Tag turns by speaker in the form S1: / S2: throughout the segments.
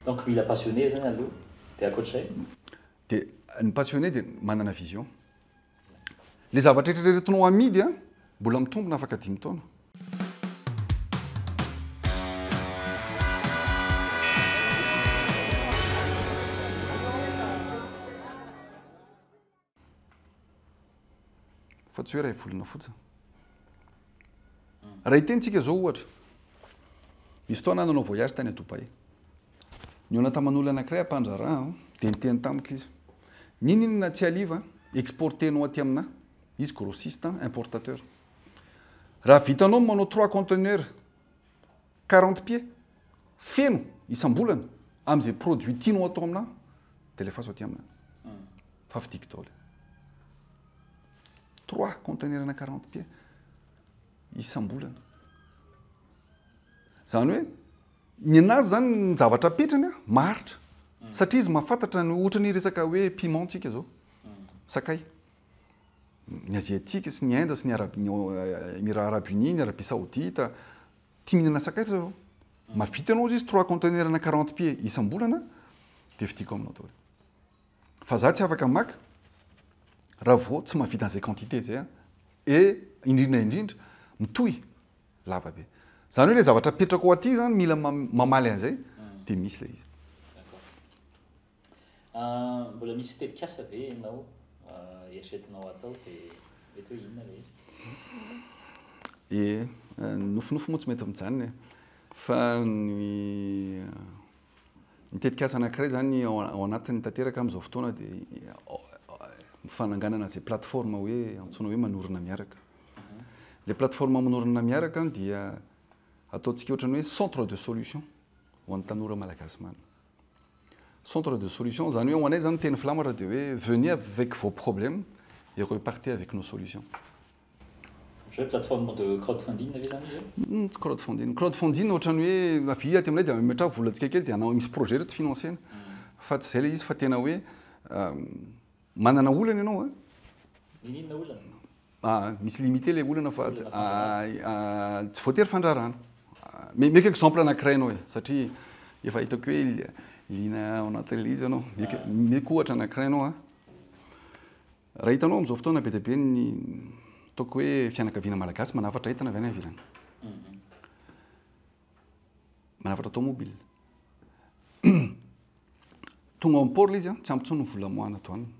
S1: Donc mila passionné zany aloha dia ankoatr'izay? Dia
S2: ny passionné dia manana vision. Ilay zavatra eritreretinao hamidy an, mbola mitombina afaka dimy taona. fa tsy hoe ray volona fotsiny raha hiteny tsika zao ohatra misy fotoana aho nanao voyage tany Dubaï nihaona taman'olona anankiray ampandraharaha an, dia niteny tamiko izy n'inon'inona tsy haliva exporter-nao aty aminà izy grossiste an, importateur raha vitanao ny manao trois conteneurs Quarante pieds feno isam-bolana amin'izay produit tianao atao aminà dia alefaso aty aminà fa vidiko daholo. Trois conteneurs-na quarante pieds isam-bolana. Izany hoe ny an'azy izany ny zavatra apetrany maharitra satria izy mahafantatra ny ohatra ny resaka hoe piment tsika izao, sakay. Ny Aziatika sy ny Inde sy ny Arab- ny Emirats Arabes Unis, ny Arabia Saodita, tia mihinana sakay ry zareo. Mahavita ianao izy trois conteneurs-na quarante pieds isam-bolana dia vidiako aminao daholo. Fa izaho tsy afaka maka raha vao tsy mahavita an'izay quantité izay aho. Et indrindra indrindra, mitohy lava be. Izany hoe ilay zavatra apetrako aty izany mila mamaly an'izay dia misy ilay izy.
S1: Mbola misy tetikasa ve ianao eritreretinao atao dia mety hoe inona ilay izy? Ie, nofinofy moa tsy
S2: mety mijanona e. Fa ny ny tetikasa anankiray izany ao anatiny tanteraka amin'izao fotoana dia ny fananganana izay plateforme hoe antsoina hoe manorina miaraka. Ilay plateforme manorina miaraka dia ataontsika ohatran'ny hoe centre de solution ho an'ny tanora malagasy maro. Centre de solution, izany hoe ho anay izany ny teny filamatra dia hoe venez avec vos problèmes et repartez avec nos solutions. Ohatry hoe plateforme
S1: de crowdfunding ve izany izy io? Tsy crowdfunding. Crowdfunding
S2: ohatran'ny hoe avia aty aminay dia ametraha vola antsika kely dia hanao misy projet ireto financer-na. Fa tsy izay ilay izy fa tena hoe Manana olana ianao a. Inona
S1: olana? A, misy limite ilay
S2: olana fa tsy tsy voatery fandrarana. Meka exemple anankiray ianao e, satria efa hitako hoe liana ao anatin'ilay izy ianao. Meka, meka ohatra anankiray ianao a. Raha hitanao amin'izao fotoana be dia be ny ataoko hoe fianakaviana malagasy manafatra entana avy any ivelany. manafatra tomobile. Tonga ao amin'ny port izy, tsy ampy intsony ny vola moana ato aminy.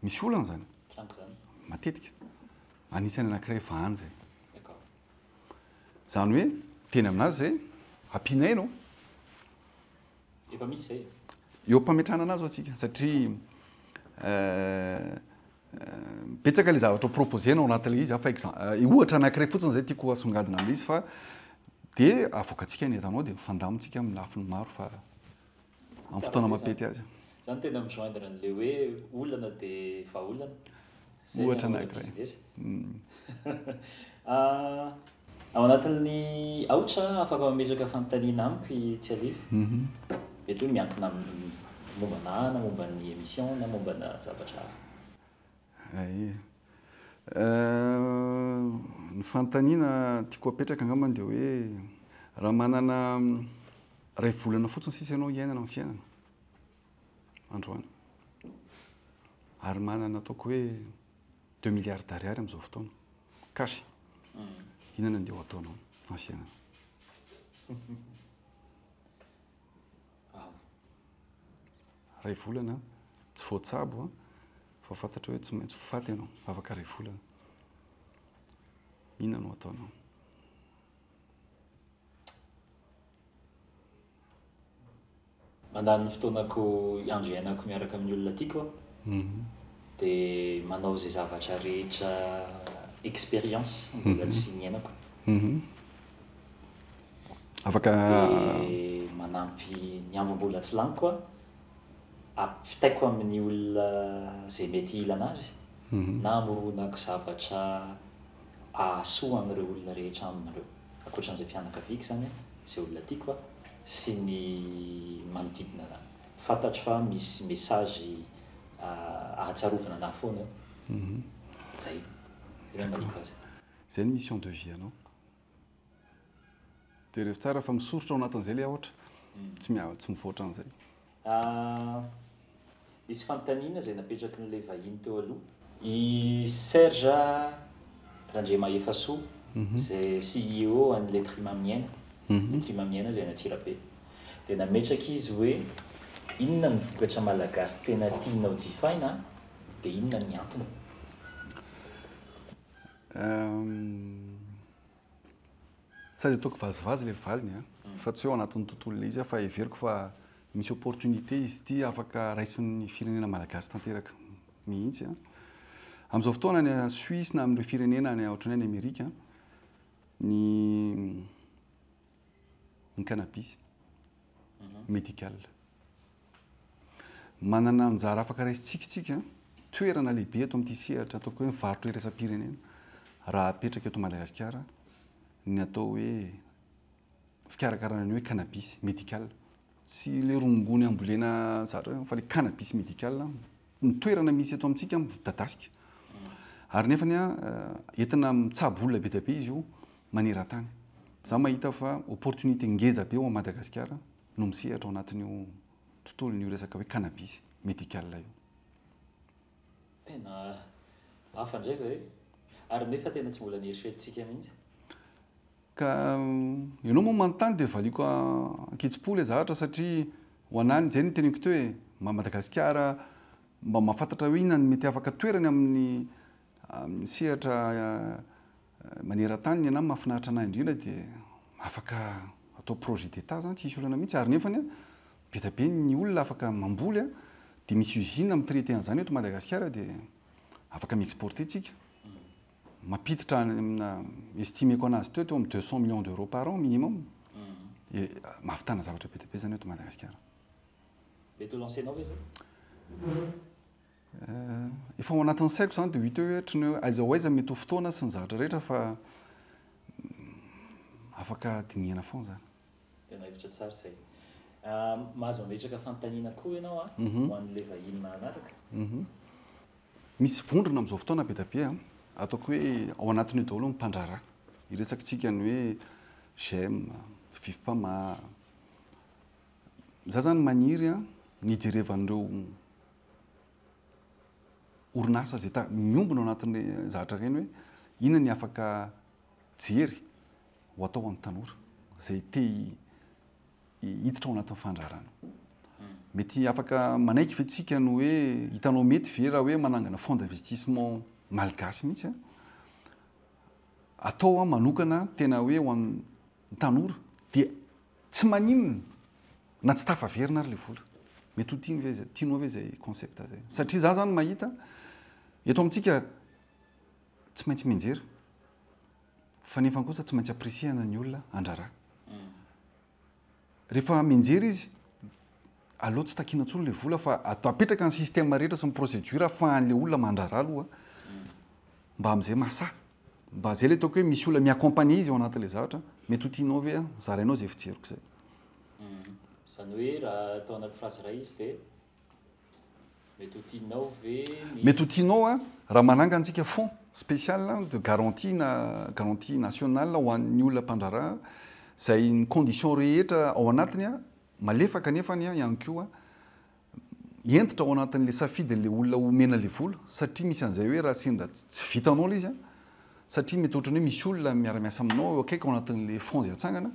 S2: Misy olana izany. Matetika. Anisan'ny anankiray efa any izay. Izany hoe, teny aminazy izay, ampianaina
S1: Efa misy izay e. Eo am-pametrahana
S2: anazy ho'a tsika satria betsaka ilay zavatra ho proposer nao anaty ilay izy aho fa exemple ohatra anankiray fotsiny izay tiako hasongadina amin'ilay izy fa dia avoakantsika ny entanao dia mifandamina tsika amin'ny lafiny maro fa amin'ny fotoana mampety azy. Za no tena mi-joindre
S1: an'ilay hoe olana dia vahaolana. Izay no Ohatra
S2: anankiray. business.
S1: Ah, ao anatin'ny aotra afaka mametraka fanontaniana amiko i Tsialivo. Mety hoe miankina amin'ny momba anah na momba ny émission na momba ana zavatra hafa. Aia. Eh,
S2: ny fanontaniana tiako apetraka angambany dia hoe raha manana iray volana fotsiny sisa ianao hiainana amin'ny fiainana, androany. Ary manana ataoko hoe deux milliards d'ariary amin'izao fotoana, cash. Inona no andeha ho ataonao amin'ny fiainana? Iray volana, tsy voatsabo fa fantatra hoe tsy maintsy ho faty ianao afaka iray volana. Inona no ataonao?
S1: Mandany ny fotoanako, andro iainako miaraka amin'ny olona tiako aho, dia manao izay zavatra rehetra expérience mbola tsy niainako.
S2: Afaka. Dia manampy
S1: ny andro mbola tsy laniko aho, ampitaiko amin'ny olona izay mety hilana azy, na amoronako zavatra. ahasoa an'ireo olona rehetra aminy ireo, ankoatran'izay fianakaviako izany, izay olona tiako sy ny manodidina an'ahy. Fantatro fa misy message ahatsarovana an'ahy foana eo. Izay. Izay
S2: no maniko
S1: azy.
S2: Izay ny mission de vie anao. Jerevo tsara fa misoritra ao anatin'izay ilay aotra. Tsy miha- tsy mivoatra an'izay.
S1: Nisy fanontaniana izay napetrakin'ilay vahiny teo aloha. I Serge Randriamahefasoa, izay CEO an'i Letry Maminiaina, Letry Maminiaina izay any Antsirabe, dia nametraka izy hoe, Inona ny vokatra malagasy tena tianao jifaina dia inona ny antony?
S2: Sady ataoko vazivazy ilay valiny an, fa tsy hoe ao anatin'ny tontolo ilay izy aho fa heveriko fa misy opportunité izy ity afaka raisin'ny firenena malagasy tanteraka mihitsy an. Amin'izao fotoana any Suisse na amin'ireo firenena any ohatran'ny hoe any Amerika an, ny ny cannabis médical. Manana anjara afaka raisintsika isika, toerana lehibe eto amin'ity sehatra ataoko hoe mivarotra iraisam-pirenena raha apetraka eto Madagasikara ny atao hoe fikarakarana ny hoe cannabis médical. Tsy ilay rongony ambolena zatra eo fa ilay cannabis médical ny toerana misy eto amintsika midadasika. Ary nefany entina mitsabo olona be dia be izy io maneran-tany. Za mahita fa opportunité ngeza be ao Madagasikara no misehatra ao anatin'io tontolon'io resaka hoe cannabis médical io. Tena
S1: hafa indray izay e! Ary nefa tena tsy mbola nieritreritsika mihitsy. Ka
S2: ianao moa manontany dia valiako ankitsi-po ilay zavatra satria ho an'ahy ny izay no teneniko teo e! Mba Madagasikara mba mahafantatra hoe inona no mety afaka toerany amin'ny amin'ny sehatra maneran-tany ny an'ahy mahafinaritra an'ahy indrindra dia afaka atao projet d'Etat izany tsisy olana mihitsy ary nefany an be dia be ny olona afaka mamboly an dia misy usine mi-traiter an'izany eto Madagasikara dia afaka mi-exporter tsika mampiditra any amina estimeko anazy teo teo amin'ny deux cent millions d'euros par an minimum dia mahavitana zavatra be dia be izany eto Madagasikara.
S1: Mety ho lancer-nao ve izany?
S2: Efa ao anatin'ny saiko izany dia ho hita eo hoe ohatry ny hoe aiza ho aiza ny mety ho fotoana sy ny zavatra rehetra fa afaka dinihana foana izany. Tena hevitra tsara
S1: izay. Ah, mahazo ametraka fanontaniana koa ianao a, ah, mhm. ho an'ilay vahiny mahanaraka. Mhm.
S2: Misy vondrona amin'izao fotoana be dia be a, ah. ataoko hoe ao anatin'io daholo ny mpandraharaha. Iresakitsika ny hoe j'aime, fifipama. Za zany maniry a, ny jerevan'ireo orinasa izay ta miombona ao anatin'ny zahatra ireny hoe inona ny afaka jery ho atao ho an'ny tanora izay te hiditra ao anatin'ny fandraharana. Mety afaka manaiky ve tsika no hoe hitanao mety ve raha hoe manangana fonds d'investissement malgasy mihitsy a? atao a manokana tena hoe ho an'ny tanora dia tsy maninona na tsy tafaverina ary le vola. Mety ho tiany ve tianao ve izay concept zay? Satria za zany mahita eto amintsika tsy maintsy mianjera. Fa nefa kosa tsy maintsy appreciana ny olona andrara. Rehefa mianjera izy, aleo tsy takina intsony ilay vola fa atao apetraka ny système rehetra sy ny procédure afahan'ilay olona mandrara aloha mba amin'izay mahasahy. Mba izay ilay ataoko hoe misy olona mi-accompagner izy ao anatin'ilay zavatra, mety ho tianao ve zarainao izay fijeriko izay.
S1: Izany hoe raha atao anaty phrase iray izy dia Mety ho tianao ve ny. Mety ho tianao
S2: an! Raha manangana tsika fonds special de garantie na garantie nationale ho an'ny olona mpandraharaha izay ny conditions rehetra ao anatiny an, malefaka nefany an ihany koa hentitra ao anatin'ilay safidin'ilay olona omena ilay vola satria misy an'izay hoe raha sendra tsy vitanao ilay izy an, satria mety ohatran'ny hoe misy olona miara-miasa aminao eo akaiky ao anatin'ilay fonds izay atsangana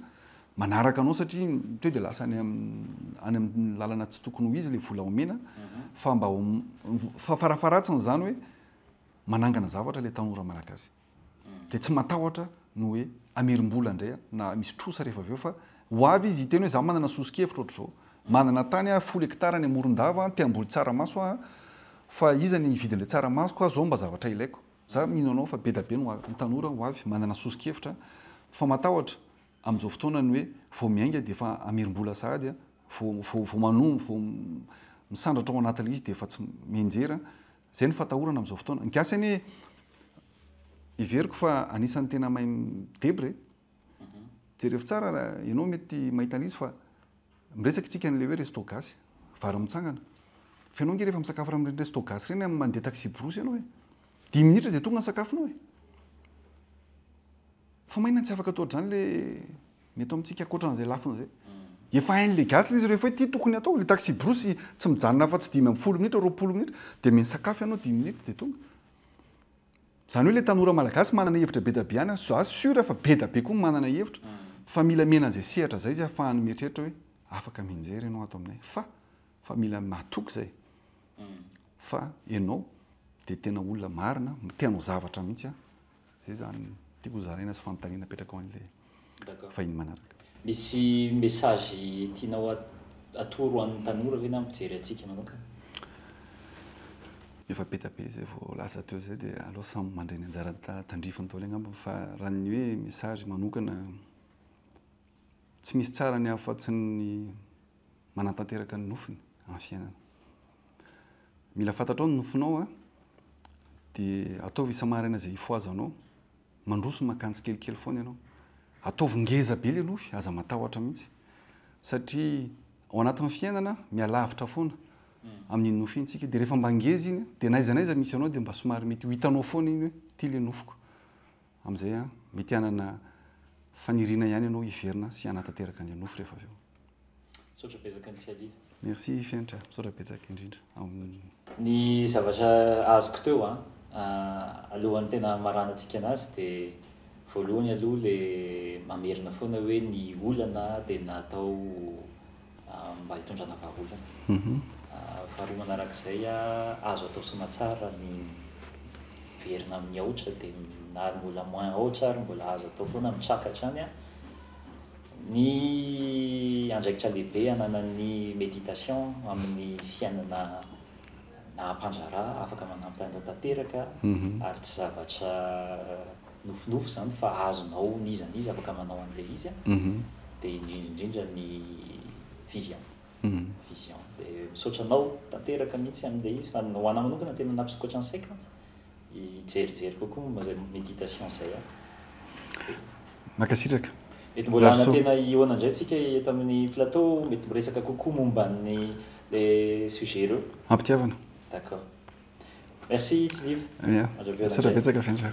S2: manaraka anao satria to dia lasa any any amin'ny lalana tsy tokony ho izy ilay vola omena mhm. fa mba fa farafaratsiny izany hoe manangana zavatra ilay tanora malagasy mhm. dia tsy matahotra no hoe amerim-bola indray na misy trosa rehefa avy eo fa ho avy izy hiteny hoe za manana soso-kevitra ohatr'izao mhm. manana tany a folo hektara any amoron-dava te hamboly tsaramaso a fa iza ny hividy an'ilay tsaramasoko a zao mba zavatra ilaiko za mino anao fa be da be no avy ny tanora ho avy manana soso-kevitra fa matahotra amin'izao fotoana ny hoe vao miainga dia efa hamerim-bola sahady an! vao vao manoa vao misandratra ao anaty ilay izy dia efa tsy mianjera an! izay no fatahorana amin'izao fotoana, ny gasy anie heveriko fa anisan'ny tena mahay mi-debra e! jerevo tsara ianao mety mahita an'izy fa Miresaka isika an'ilay hoe resto gasy, vary mitsangana. Fa ianao ange rehefa misakafo raha amin'ireny resto gasy ireny amin'ny mandeha taxi-brousse ianao e. Dimy minitra dia tonga ny sakafonao e. Fa maninona tsy afaka atao ohatr'izany ilay ny eto amintsika ankoatra an'izay lafiny izay. Efa hain'ilay gasy ilay izy rehefa hoe ity tokony atao, ilay taxi-brousse tsy mijanona afa-tsy dimy ambin'ny folo minitra, roapolo minitra dia misakafo ianao dimy minitra dia tonga. Zany hoe le tanora malagasy manana hevitra be da be any, za sûr fa be da be koa ny manana hevitra, fa mila mena an'izay sehatra zay izy ahafahany mieritreritra hoe afaka mianjera enao ato aminay fa, fa mila mahatoky zay fa enao de tena olona marina, te hanao zavatra mihitsy an, zay zany tiako hozaraina sy fanontaniana apetrako an'ilay. vahiny manaraka. Misy
S1: message tianao atoro an'ny tanora ve na ny mpijery antsika manokana?
S2: Efa be dia be izay voalaza teo izay dia aleo samy mandray ny anjarany tandrifiny daholo angamba fa raha ny hoe message manokana tsy misy tsara ny afatsy ny manatanteraka ny nofiny amin'ny fiainana. Mila fantatrao ny nofinao dia ataovy isa-maraina izay hifohazanao. Mandroso maka tsikelikely foana ianao. Ataovy ngeza be ilay nofy, aza matahotra mihitsy. Satria ao anatin'ny fiainana, mialavitra foana amin'iny nofy iny tsika. Dia rehefa mba ngeza iny, dia na aiza na aiza misy anao dia mba somary mety ho hitanao foana iny hoe ity ilay nofiko. Amin'izay mety hanana faniriana ihany ianao hiverina sy hanatanteraka an'ilay nofy rehefa avy eo. Misaotra betsaka
S1: ny tsialiva. Merci Fenitra,
S2: misaotra betsaka indrindra amin'ny Ny
S1: zavatra azoko teo an, alohan'ny tena hamaranantsika anazy dia voalohany aloha le mamerina foana hoe ny olana dia natao mba hitondrana vahaolana. Faharoa manarak'izay an, azo atao soamantsara ny miverina amin'ny aotra dia na ary mbola moins aotra ary mbola azo atao foana mitraka hatrany an, Ny andraikitra lehibe ananan'ny méditation amin'ny fiainana naha mpandraharaha, afaka manampy anao tanteraka ary tsy zavatra nofinofy izany fa azonao n'iza n'iza afaka manao an'ilay izy a, dia indrindra indrindra ny vision, vision. Dia misaotra anao tanteraka mihitsy amin'ilay izy fa ho anahy manokana tena nampisokatra ny saiko. hijerijery kokoa momba izay méditation izay aho. Mankasitraka.
S2: Mety mbola hanantena
S1: hihaona indray tsika eto amin'ny plateau, mety miresaka kokoa momba ny le sujet ireo. Ampitiavana. D'accord. Merci
S2: Tsiniva. Ia.
S1: Misaotra betsaka
S2: Fenitra.